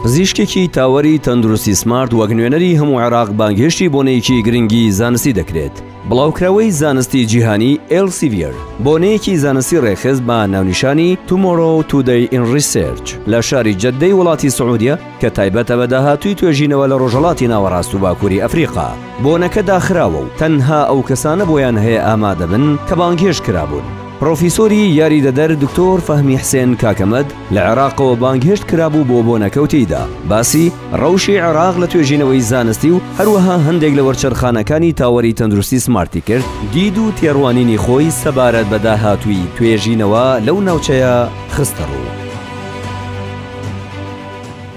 پزیشکێکی تاوەری تەندروستی سمارت وەک نوێنەری هەموو عێراق بانگهێشتی بۆنەیەکی گرنگی زانستی دەکرێت. بڵاوکراوەی زانستی جیهانی ئێلسیڤیەر بۆنەیەکی زانستی ڕێکخست بە ناونیشانی Tomorrow Today in Research لە شاری جەددەی وڵاتی سعودیە کە تایبەتە بە داهاتووی توێژینەوە لە ڕۆژهەڵاتی ناوەڕاست و باکووری ئەفریقا بۆنەکە داخراوە و تەنها ئەو کەسانە بۆیان هەیە ئامادەبن کە بانگهێشت کرابوون. پڕۆفیسۆری یاریدەدەر دکتۆر فەهمی حسێن کاکەمەد، لە عێراقەوە بانگهێشت کرابوو بۆ بۆنەکە و تێیدا باسی ڕەوشی عێراق لە توێژینەوەی زانستی و هەروەها هەندێک لە وەرچەرخانەکانی تاوەری تەندروستی سمارتی کرد، دید و تێڕوانینی خۆی سەبارەت بە داهاتووی توێژینەوە لەو ناوچەیە خستەڕوو.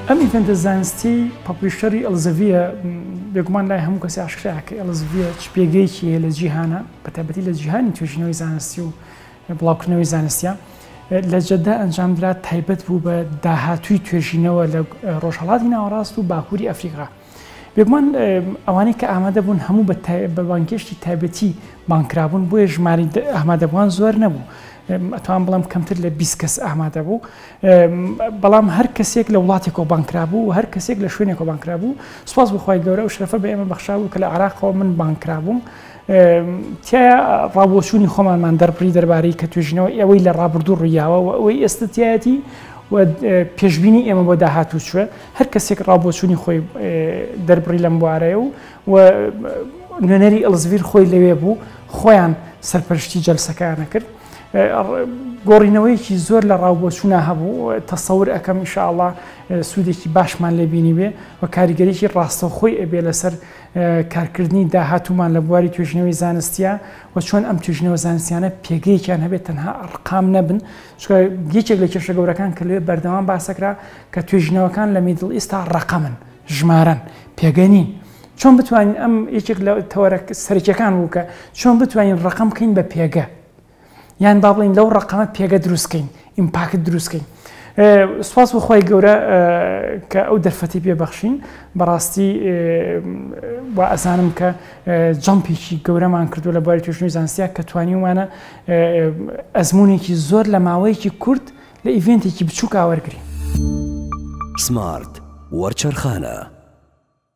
ئەم ئیڤێنتە زانستیەی پەپڵیشەری ئەلزەڤیە بێگومان لای هەموو کەسێ ئاشکرایە کە ئەلزڤیە چ پێگەیەکی هەیە لە جیهانا بەتایبەتی لە جیهانی توێژینەوەی زانستی و بڵاوکردنەوەی زانستیە لە جەدە ئەنجامدرا تایبەت بوو بە داهاتووی توێژینەوە لە ڕۆژهڵاتی ناوەڕاست و باکووری ئەفریقا بێگومان ئەوانەی کە ئامادە بوون هەموو بە بانگێشتی تایبەتی بانکرابوون بۆیە ژماری ئامادەبووان زۆر نەبوو ئەتوان بڵم کەمتر لە 20 کەس ئامادە بوو بەڵام هەر کەسێک لە وڵاتێکەوە بانکرابوو و هەر کەسێک لە شوێنێکەوە بانکرابوو سوپاس بخوای گەورە و شرفە بە ئێمە بەخشابوو کە لە عراقەوە من بانکرابووم تیایا ڕاوبۆچوونی خۆمانمان دەربڕی دەربارەی کە توێژینەوە ئەوەی لە ڕابردوو ڕوویاوە و ئەوەی ئێستەتیایەتی و پێشببینی ئێمە بۆ داهاتوو چوە هەر کەسێک ڕاوبۆچوونی خۆی دەربڕی لەم بوارەیە و و نوێنەری ئەلزڤیر خۆی لەوێ بوو خۆیان سەرپەرشتی جەلسەکانە کرد گۆڕینەوەیەکی زۆر لە ڕاوبۆچوونا هەبوو تەسەور ئەەکەم ئیشاءله سوودێکی باشمان لێبینی بێ و کاریگەریی ڕاستەوخۆی ئەبێ لەسەر کارکردنی داهاتوومان لە بواری توێژینەوەی زانستیە و چۆن ئەم توێژینەوە زانستیانە پێگەیەکیان هەبێت تەنها ئەرقام نەبن چکە یەکێک لە کێشە گەورەکان کە لێ بەردەوام باسەکرا کە توێژینەوەکان لە میدڵ ئیستا ڕقەمن ژمارن پێگەنین چۆن بتوانین ئەم یەکێک لە تەوەرە سەرکیەکان بوو کە چۆن بتوانین ڕقم بکەین بە پێگە یان با بڵین لەو ڕقەمە پێگە دروستکەین ئیمپاکت دروستکەین سوپاس بخوای گەورە کە ئەو دەرفەتی پێبەخشین بەڕاستی وا ئەزانم کە جەمپێکی گەورەمان کردو لە باری توێژنی زانسیە کە توانیومانە ئەزمونێکی زۆر لە ماوەیەکی کورت لە ئیڤێنتێکی بچووک ئاوەرگری سمارت وەرچەرخانە